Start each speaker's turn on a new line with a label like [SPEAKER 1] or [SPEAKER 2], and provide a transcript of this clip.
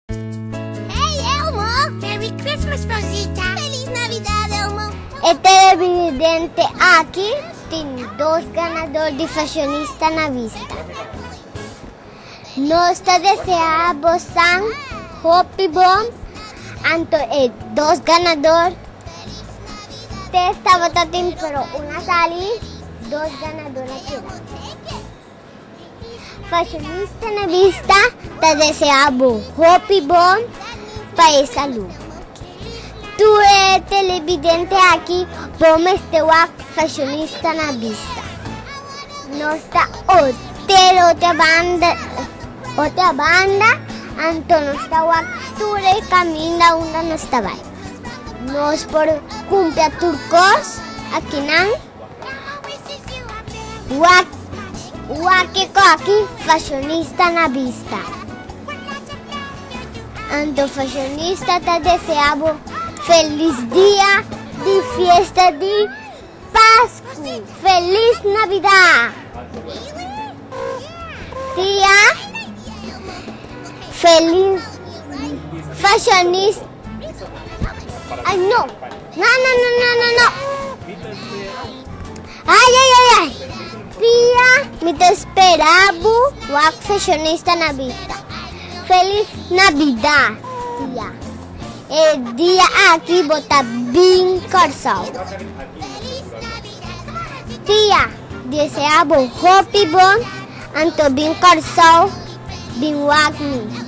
[SPEAKER 1] Hey Elmo! Merry Christmas Rosita! Feliz Navidad Elmo! E televidente aki tin dos ganador di Fashionista na vista. Nos ta desea bosan hopi bon anto e dos ganador test tabata tin pero un a sali dos ganador a keda. Fashionista na bista ta deseá bo hopi bon pa e salú. Tur e televidente aki bo mester wak fashionista na bista. Nos ta hotel ota banda ota banda anto nos ta wak tur e kaminda unda nos ta bai. Nos por kumpra tur kos akinan. Wak waki koki fashionista na bista. Anto fashionista ta desea bo felis dia di fiesta di Pasku. Felis Navida! Tia felis fashionista. Ay no! No no no no no no. Mi ta espera. Ay ay ay ay. Pia, mi ta espera bo wak fashionista na bista. Feliz Navidad, tia. E dia aki bo ta bin Kòrsou. Tia, desea bo hopi bon anto bin Kòrsou bin wak mi.